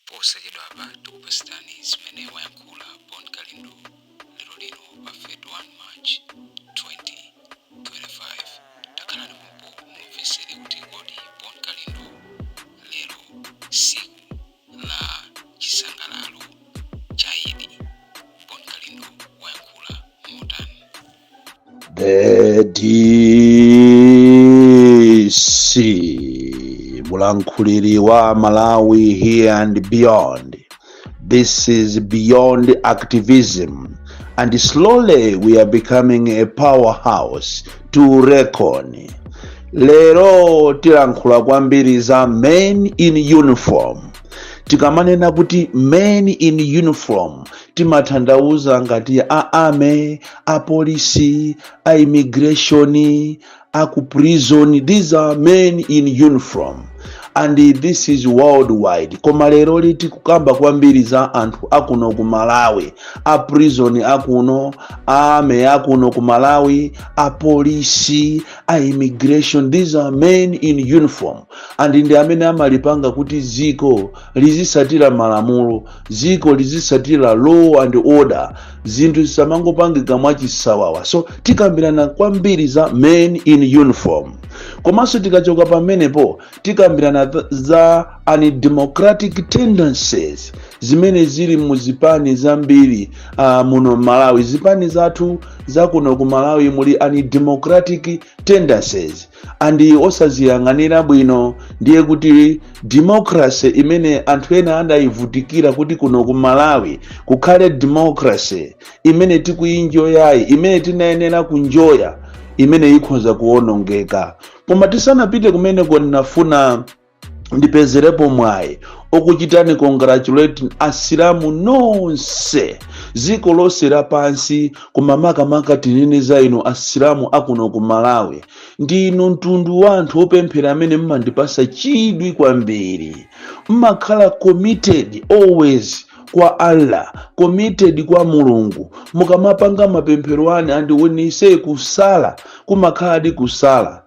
posachedwapa tikupasitani zimene wayankhula bon kalindo lero lino pa 31 march 2025 takhalani pompo mumvesere kuti kodi bon kalindo lero siku la chisangalalo cha idi bon kalindo wayankhula motani The DC Mulankuliri wa Malawi here and beyond. This is beyond activism. And slowly we are becoming a powerhouse to reckon. Lero tilankhula kwambiri za men in uniform. Tikamanena kuti men in uniform timatanthauza ngati a army a police a immigration a ku prison these are men in uniform and this is worldwide koma leroli tikukamba kwambiri za anthu akuno ku malawi a prison akuno a army akuno ku malawi a polisi a immigration these are men in uniform and ndi amene amalipanga kuti dziko lizisatira malamulo dziko lizisatira law and order zinthu zisamangopangika mwachisawawa so tikambirana kwambiri za men in uniform komanso tikachoka pamenepo tikambirana th- za undemocratic tendencies zimene zili mu zipani zambiri uh, muno malawi zipani zathu zakuno ku malawi muli undemocratic tendencies andi osaziyang'anira bwino ndiye kuti democracy imene anthu ena anayivutikira kuti kuno ku malawi kukhale democracy imene tikuyinjoyayi imene tinayenera kunjoya imene ikhoza kuwonongeka koma tisanapite kumeneko ndinafuna ndipezerepo mwayi okuchitani congratulate asilamu nonse dziko lonse lapansi koma makamaka tinene za inu asilamu akuno ku malawi ndinu mtundu wa anthu opemphera amene mmandipasa chidwi kwambiri mmakhala committed always kwa allah committed kwa mulungu mukamapanga mapemphero anu and when you say kusala kumakhaladi kusala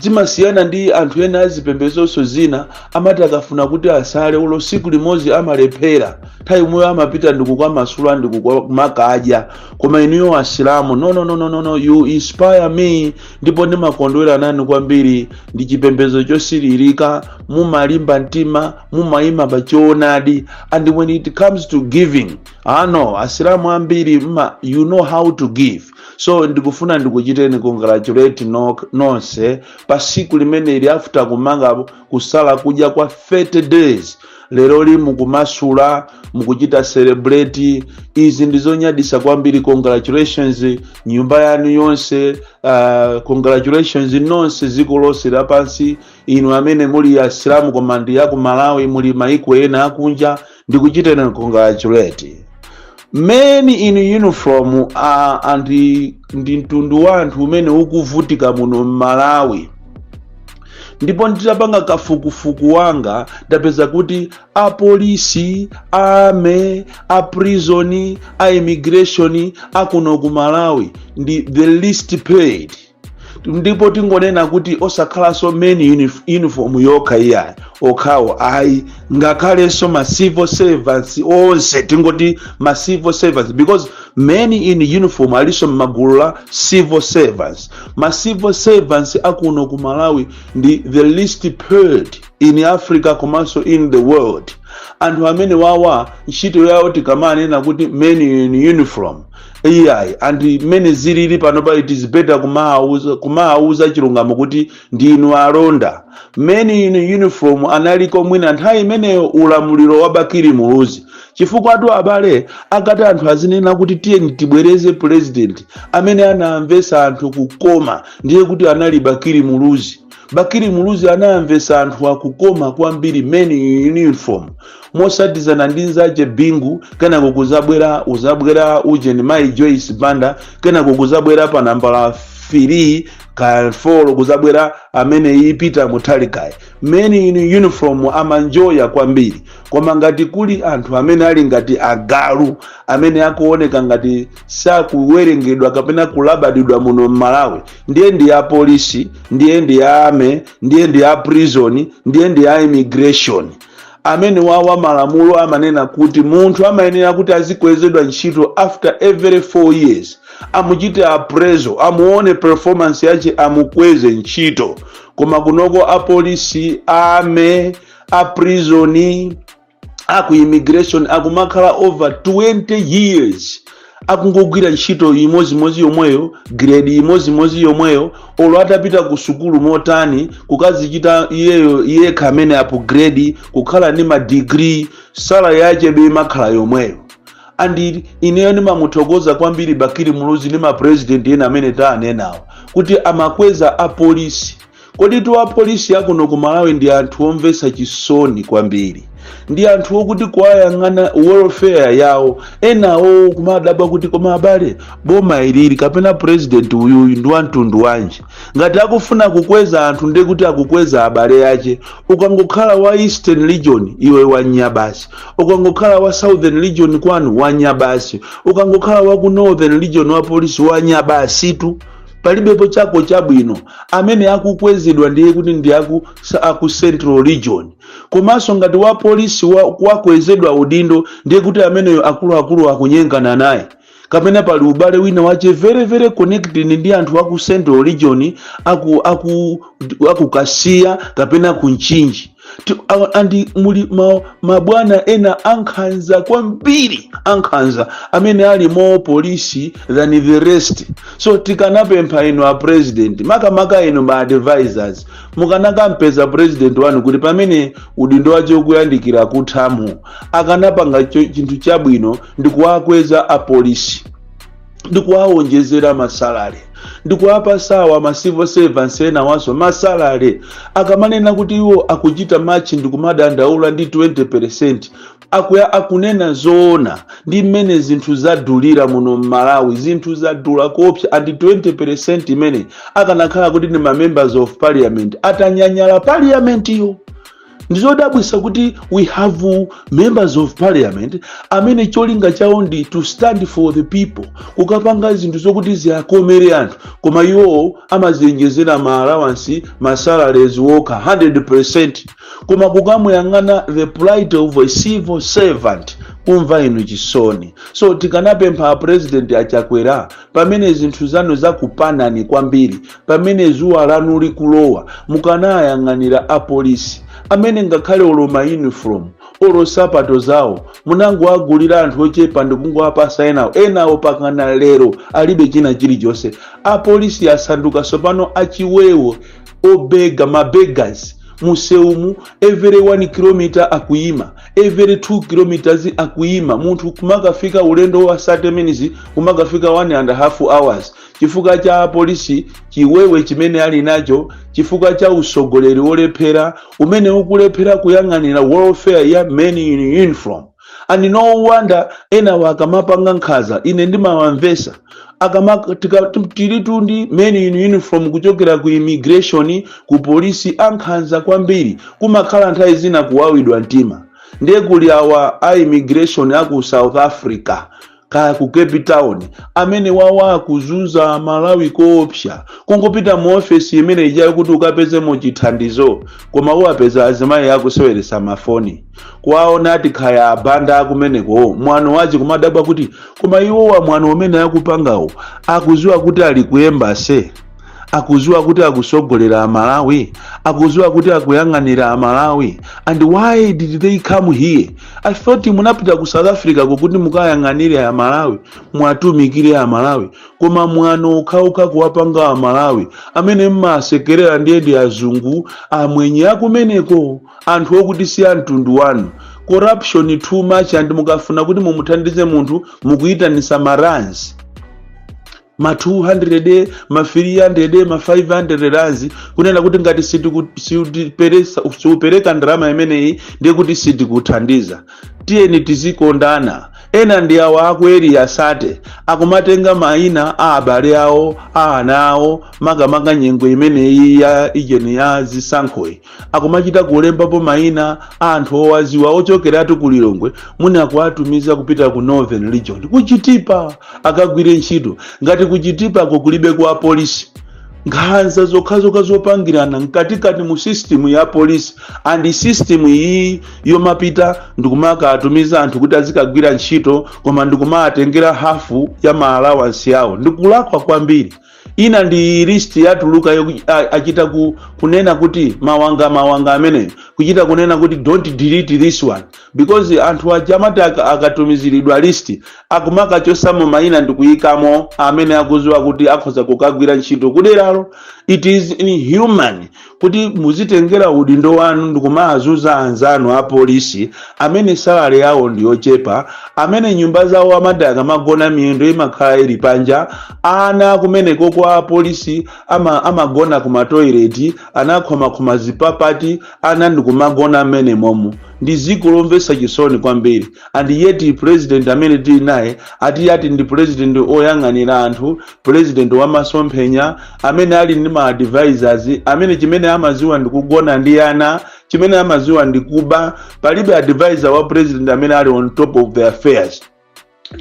Zimasiyana ndi anthu ena a zipembedzo zina, amati akafuna kuti asale olo tsiku limodzi amalephera, nthawi yomweyo amapita ndi kukamasula ndi kuka- kumakadya. Koma inuyo Asilamu, no no no no no, no you inspire me, ndipo ndimakondwera nanu kwambiri. Ndi chipembedzo chosilirika, mumalimba mtima, mumayima pa choonadi, and when it comes to giving, ah no, Asilamu ambiri mma, you know how to give. so ndikufuna ndikuchiteni congratulate no, nonse pa siku limeneli after kumanga kusala kudya kwa 30 days leroli mukumasula mukuchita celebrate izi ndizonyadisa kwambiri congratulations nyumba yanu yonse uh, congratulations nonse dziko lonse lapansi inu amene muli asilamu koma ndi aku malawi muli maiko ena akunja ndikuchitirani congratulate men in uniform ndi mtundu wa anthu umene ukuvutika muno m'malawi ndipo nditapanga kafukufuku wanga ndapeza kuti apolisi a army a prison a immigration akuno ku malawi ndi the least paid ndipo tingonena kuti osakhalanso men in uniform yokha iyayi okhawo ayi ngakhalenso ma civil servants onse tingoti ma civil servants because men in uniform alinso mgulu la civil servants ma civil servants akuno ku malawi ndi the least paid in africa komanso in the world anthu amene wawa ntchito yawo tikamanena kuti men in uniform iyayi and mmene zilili panopa it is better kumawauza chilungamo kuti ndinu alonda men in uniform analiko mwina nthawi imeneyo ulamuliro wa bakili muluzi chifukwatu abale akati anthu azinena kuti tiyeni tibwereze president amene anawamvesa anthu kukoma ndiye kuti anali bakili muluzi bakili muluzi anawamvesa anthu kukoma kwambiri men in uniform motsatizana ndi nzache bingu kenako kuzabwera uzabwera ujeni mai joyce banda kenako kuzabwera pa nambala 4 ka 4 kuzabwera amenei peter mutharikayi men in uniform amanjoya kwambiri koma ngati kuli anthu amene ali ngati agalu amene akuoneka ngati sakuwerengedwa kapena kulabadidwa muno mmalawi ndiye ndi a polisi ndiye ndi a army ndiye ndi a prison ndiye ndi a immigration amene wawa malamulo amanena kuti munthu amayenera kuti azikwezedwa ntchito after every 4 years amuchite appraisal amuone performance yache amukweze ntchito koma kunoko apolisi a army a prison aku immigration akumakhala over 20 years akungogwira ntchito imozimozi yomweyo grade imozimozi yomweyo olo atapita ku sukulu motani kukazichita iyeyo yekha amene upgrade kukhala ndi madigiri salary yachebe imakhala yomweyo and ineyo ndimamuthokoza kwambiri bakili muluzi ndi mapresident ena amene tawanenawo kuti amakweza apolisi Koditu apolisi akuno ku Malawi ndi anthu omvetsa chisoni kwambiri. Ndi anthu okuti kuwayang'ana welfare yawo enawowo kumadabwa kuti koma abale boma ilili kapena president uyuyu ndi wamtundu wanji. Ngati akufuna kukweza anthu ndiye kuti akukweza abale ache. Ukangokhala wa Eastern region iwe wanya basi. Ukangokhala wa Southern region kwanu wanya basi. Ukangokhala wa ku Northern region wa polisi wanya basitu. palibepo chako chabwino amene akukwezedwa ndiye kuti ndi aku, sa- aku central region komanso ngati wa polisi wa- wakwezedwa udindo ndiye kuti ameneyo akuluakulu akunyengana naye kapena pali ubale wina wache very very connected ndi anthu aku central region aku aku akukasiya kapena ku Mchinji andi muli ma, mabwana ena ankhanza kwambiri ankhanza amene ali more polisi than the rest so tikanapempha inu a president makamaka inu ma advisors mukanakampeza president wanu kuti pamene udindo wache ukuyandikira kuthamu akanapanga cho- chinthu chabwino ndi kuwakweza apolisi ndi kuwawonjezera masalale ndi kuwapasawa ma civil servants enawaso masalale akamanena kuti iwo akuchita march ndi kumadandaula ndi 20% akuya akunena zoona ndi mmene zinthu zadulira muno mmalawi zinthu zadula kopsa andi 20% imene akanakhala kuti ndi ma members of parliament atanyanyala parliament yo ndizodabwisa kuti we have members of parliament amene cholinga chawo ndi to stand for the people kukapanga zinthu zokuti ziakomere anthu koma iwowo amaziyenjezera ma allowance ma salaries wokha 100% koma kukamuyang'ana the plight of a civil servant kumva inu chisoni so tikanapempha apresident achakwera pamene zinthu zanu zakupanani kwambiri pamene zuwa lanu likulowa mukanayang'anira apolisi amene ngakhale olo mauniform olo sapato zawo munangoagulira anthu ochepa ndikungowapasa enawo enawo pakana lero alibe china chilichonse apolisi asanduka sopano achiwewo obega ma beggars museumu every 1 km akuyima every 2 km akuyima munthu kumakafika ulendo wa 30 minutes kumakafika 1 and a half hours chifukwa cha apolisi chiwewe chimene ali nacho chifukwa cha usogoleri wolephera umene ukulephera kuyang'anira welfare ya men in uniform and no wonder enawo akamapanga nkhanza ine ndimawamvesa akama tika- tu- tilitu ndi men in uniform kuchokera ku immigration ku polisi ankhanza kwambiri kumakhala nthawi zina kuwawidwa mtima ndiye kuli awa a immigration aku south africa kaya ku cape town amene wawa akuzunza malawi koopsa kungopita mu ofesi imene ijayo kuti ukapezemo chithandizo koma uwapeza azimayi akuseweresa mafoni kuwaona ati khaya abanda akumeneko mwano wachi kumadabwa kuti koma iwowa mwano umene akupangawo akuziwa kuti ali ku embassy akuziwa kuti akusogolera amalawi akuziwa kuti akuyang'anira amalawi and why did they come here i thought munapita ku south africa kokuti mukayang'anire amalawi mwatumikire amalawi koma mwano ukakhala kuwapanga amalawi amene mmasekerera ndiye ndi azungu amwenye akumeneko anthu okuti si amtundu wanu corruption too much and mukafuna kuti mumuthandize munthu mukuyitanisa maranzi ma 200 ma 300 ma 500 rands kunena kuti ngati siupereka ndalama imeneyi ndiye kuti sitikuthandiza tiyeni tizikondana ena ndi awa aku area 30 akumatenga maina a abale awo a ana awo makamaka nyengo imeneyi ya ijeni ya zisankhoyi akumachita kulembapo maina a anthu owaziwa ochokeratu ku lilongwe muni akuwatumiza kupita ku northern region kuchitipa akagwire ntchito ngati kuchitipako kulibe kwa polisi nkhanza zokhazokha zopangirana mkatikati mu system ya polisi and system iyi yomapita ndikumakatumiza anthu kuti azikagwira ntchito koma ndikumawatengera hafu ya ma allowance awo ndikulakwa kwambiri ina ndi list yatuluka achita kunena kuti mawanga mawanga amene kuchita kunena kuti don't delete this one because anthu aja amati aka- akatumiziridwa list akumakachosamo mayina ndikuyikamo amene akuziwa kuti akhoza kukagwira ntchito kuderalo it is inhuman kuti muzitengera udindo wanu ndikumazuza anzanu a polisi amene salary yawo ndi yochepa amene nyumba zawo amati akamagona miyendo imakhala ili panja ana kumeneko kwa polisi amagona ku matoileti anakhomakhoma zipapati ana ndikumagona mmenemomo ndi dziko lomvetsa chisoni kwambiri and yet president amene tili naye ati ati ndi president oyang'anira anthu president wa masomphenya amene ali ndi ma advisors amene chimene amaziwa ndi kugona ndi ana chimene amaziwa ndi kuba palibe advisor wa president amene ali on top of the affairs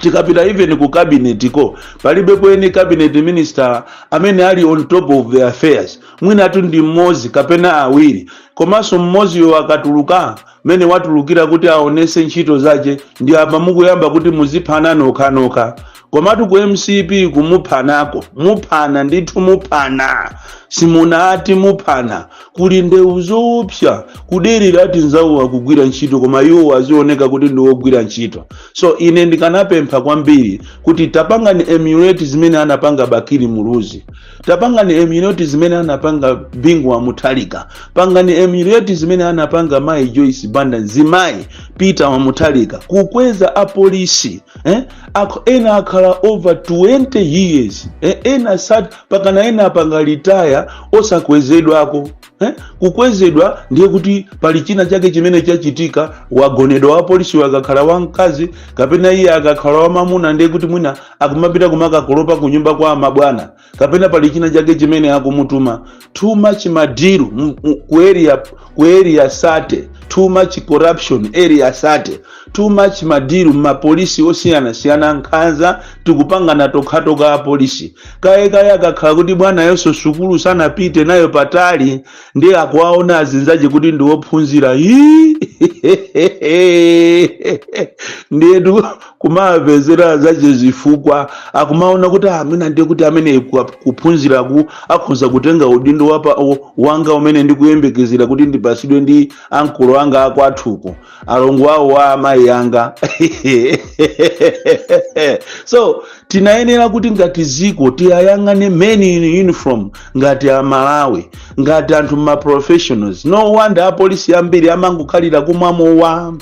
tikapita even ku cabinet ko palibepo any cabinet minister amene ali on top of the affairs mwinatu ndi mmodzi kapena awiri komanso mmodziyo akatuluka mene watulukira kuti aonese ntchito zache ndi apa mukuyamba kuti muziphana nokhanokha komatu ku mcp kumuphanako muphana ndithu muphana simunati muphana kuli ndewu zoopsa kudererati anzawo akugwira ntchito koma iwo azioneka kuti ndi wogwira ntchito so ine ndikanapempha kwambiri kuti tapangani emulate zimene anapanga bakili muluzi tapangani emulate zimene anapanga Bingu wa Mutharika pangani emulate zimene anapanga mayi Joyce Banda mzimayi Peter wa Mutharika kukweza apolisi eh? Akh- ena akhala over 20 years eh? ena sate pakana ena apanga retire osakwezedwako eh? kukwezedwa ndiye kuti pali china chake chimene chachitika wagonedwa wapolisi akakhala wamkazi kapena iye akakhala wamamuna ndiye kuti mwina akumapita kumakakolopa ku nyumba kwa amabwana kapena pali china chake chimene akumutuma too much madiru m- m- ku area ku area sate too much corruption area sate Too much madiru m'mapolisi osiyanasiyana nkhanza tikupangana tokhatokha apolisi kaye kaye akakhala kuti bwanayonso sukulu sanapite nayo patali ndiye akuwaona azinzache kuti ndi wophunzira Hii! ndiyetu kumawapezera zache zifukwa akumaona kuti amene ndiye kuti amene ku- kuphunziraku akhoza kutenga udindo wapa- wanga umene ndikuyembekezera kuti ndipasidwe ndi ankolo anga akwathuko alongo awo a amayi anga so tinayenera kuti ngati ziko tiyayang'ane men in uniform ngati aMalawi ngati anthu ma professionals no wonder apolisi ambiri amangokhalira kumwa mowa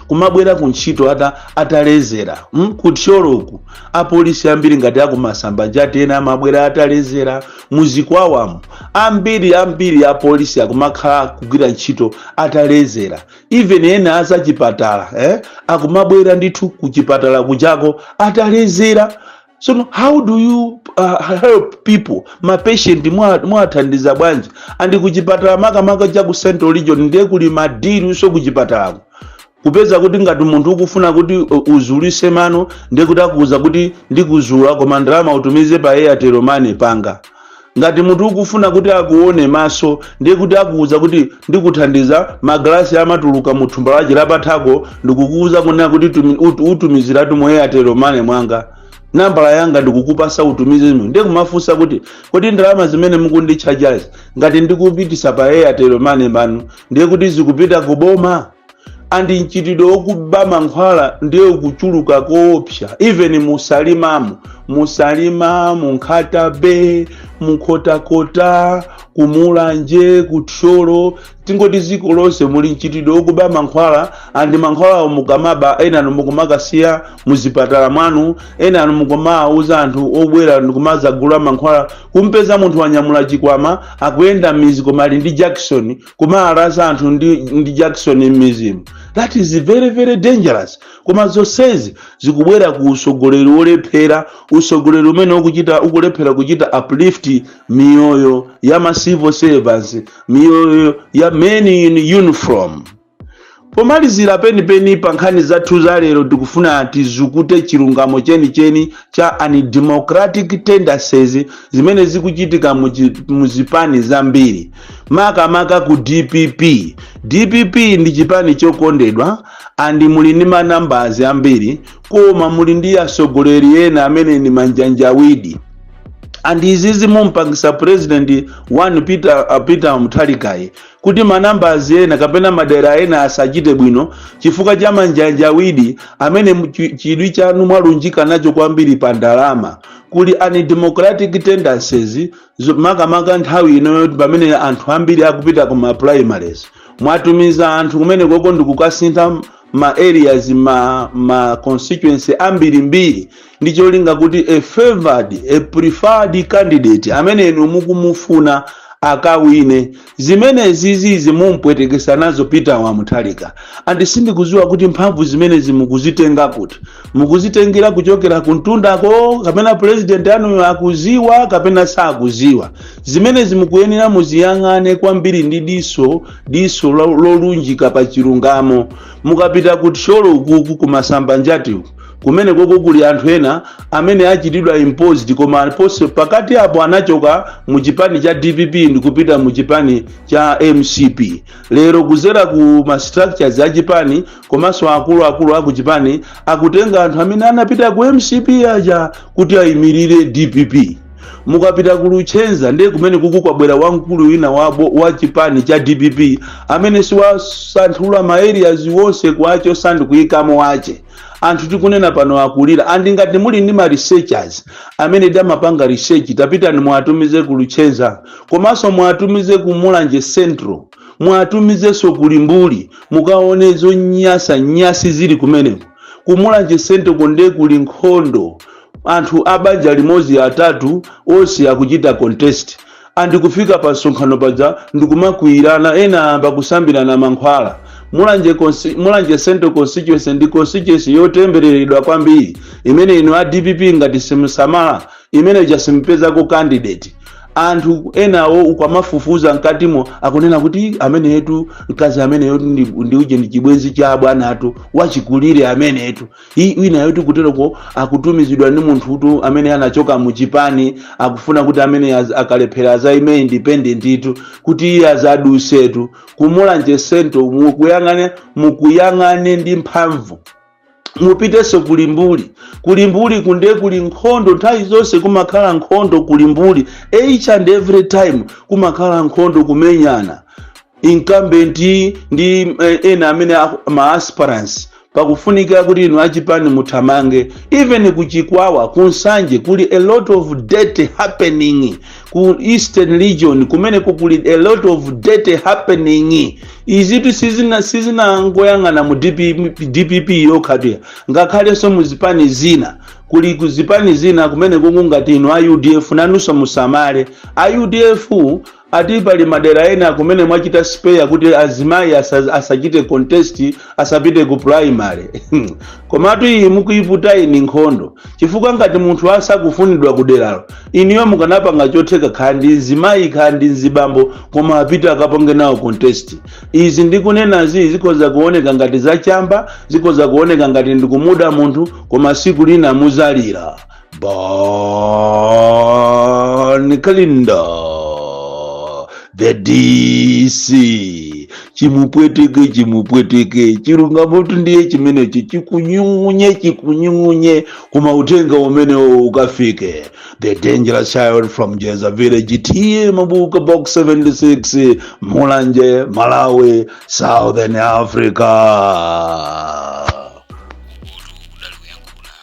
kumabwera ku ntchito ata, atalezera mm? ku Thyoloku apolisi ambiri ngati aku Masambanjati ena amabwera atalezera mu Chikwawamu ambiri ambiri apolisi akumakhala kugwira ntchito atalezera even ena azachipatala eh? akumabwera ndithu kuchipatala kujako atalezera sono how do you uh, help people mapatient mwathandiza bwanji andi kuchipatala makamaka cha ku central region ndiye kuli madiluso kuchipatalako kupeza kuti ngati munthu ukufuna kuti uh, uzulise mano ndiye kuti akuuza kuti ndikuzula koma ndalama utumize pa airtel money panga ngati munthu ukufuna kuti akuone maso ndiye kuti akuuza kuti ndikuthandiza magalasi amatuluka mu thumba lache lapathako ndikukuuza kunena kuti tumi- ut- utumiziratu mu airtel money mwanga nambala yanga ndikukupasa utumize zimene ndiye kumafunsa kuti kodi ndalama zimene mukunditchajazi ngati ndikupitisa pa airtel money manu ndiye kuti zikupita kuboma and mchitidwe wokuba mankhwala ndiye ukuchuluka koopsa even mu Salimamo mu Salima mu Nkhata Bay mu Nkhotakota ku Mulanje ku Thyolo tingoti ziko lonse muli mchitidwe wokuba mankhwala andi mankhwalawo mukamaba enanu mukumakasiya muzipatala mwanu enanu mukumauza anthu obwera ndikumazagula mankhwala kumpeza munthu wanyamula chikwama akuyenda m'mizi koma ali ndi jakisoni kumalalaza anthu ndi, ndi jackson mmizimu that is very very dangerous koma zonsezi zikubwera ku usogoleri wolephera usogoleri umene ukuchita ukulephera kuchita uplift miyoyo ya ma civil servants miyoyo ya men in uniform pomalizira penipeni pa nkhani zathu za lero tikufuna tizukute chilungamo chenicheni cha undemocratic tendencies zimene zikuchitika mu chi- mu zipani zambiri makamaka ku dpp dpp ndi chipani chokondedwa and muli ndi ma numbers ambiri koma muli ndi atsogoleri ena amene ndi manjanjawidi and izi zimumpangisa president one peter, uh, peter muthalikayi kuti ma numbers ena kapena madera ena asachite bwino chifukwa cha manjanjawidi amene mu- chi- chidwi chanu mwalunjika nacho kwambiri pa ndalama kuli undemocratic tendencies zo- makamaka nthawi ino yoti pamene anthu ambiri akupita ku ma primaries mwatumiza anthu kumenekoko ndikukasintha ma areas ma, ma constituency ambirimbiri ndi cholinga kuti a favored a preferred candidate amene inu mukumufuna akawine zimenezi zizimumpwetekesa nazo peter wa mutharika and sindikuziwa kuti mphamvu zimenezi mukuzitenga kuti mukuzitengera kuchokera kumtundako kapena purezidenti anuyo akuziwa kapena sakuziwa zimenezi mukuyenera muziyang'ane kwambiri ndi diso diso lo- lolunjika pa chilungamo mukapita ku thyolo ukuku kumasamba njati kumene koko kuli anthu ena amene achitidwa imposed koma pose pakati apo anachoka mu chipani cha dpp ndikupita mu chipani cha mcp lero kuzera ku ma structures a chipani komanso akuluakulu aku chipani akutenga anthu amene anapita ku mcp aja kuti ayimirire dpp mukapita ku luchenza ndiye kumene kuku kwabwera wamkulu wina wawo wa chipani cha dpp amene si wasanthula ma areas onse kuwachosa ndi kuyikamo wache anthu tikunena pano akulira and ngati muli ndi ma researchers amene amapanga research tapitani muwatumize ku luchenza komanso muwatumize ku mulanje central muwatumizenso ku limbuli mukaone zonyasa nyasi zili kumeneko kumulanje central ko nde kuli nkhondo anthu a banja limodzi atatu onse akuchita contest and kufika pa msonkhano paja ndikumakwiyirana ena amba kusambirana mankhwala mulanje, consi- mulanje central constituency ndi constituency yotembereredwa kwambiri imene inu a dpp ngati simusamala imene chasimupezako candidate anthu enawo ukamafufuza mkatimo akunena kuti ameneyetu mkazi ameneyotu ndi ndi uje ndi chibwenzi cha abwana athu wachikulire ameneyetu I- wina yoti kuteroko akutumizidwa ndi munthutu amene anachoka mu chipani akufuna kuti amene az- akalephera azaime independent itu kuti iye azadusetu ku Mulanje Central mukuyang'ane mukuyang'ane ndi mphamvu mupitenso ku Limbuli ku Limbuli kunde kuli nkhondo nthawi zonse kumakhala nkhondo ku Limbuli each and every time kumakhala nkhondo kumenyana incumbent ndi eh, ena amene aku- ma aspirants pakufunika kuti inu achipani muthamange even ku chikwawa ku nsanje kuli a lot of dirty happening ku eastern region kumene kuli a lot of dirty happening izitu sizina sizinangoyang'ana mu DP, dpp yokhatu iyayi ngakhalenso mu zipani zina kuli ku zipani zina kumeneko ngati inu a udf nanunso musamale a udf Ati pali madera ena kumene mwachita spare kuti azimayi asa, asachite contest asapite ku primary komatu iyi mukuiputayi ndi nkhondo chifukwa ngati munthu asakufunidwa ku deralo inuyo mukanapanga chotheka khala ndi mzimayi khala ndi mzibambo koma apite akapange nawo contest izi ndikunenazi zikhoza kuoneka ngati zachamba zikhoza kuoneka ngati ndikumuda munthu koma siku lina muzalira Bon Kalindo, the DC, chimupweteke chimupweteke chilungamotu ndiye chimenechi chikunyung'unye chikunyung'unye koma uthenga umenewo ukafike the dangerous child from jeza village T/A Mabuka box 76 mulanje malawi southern africa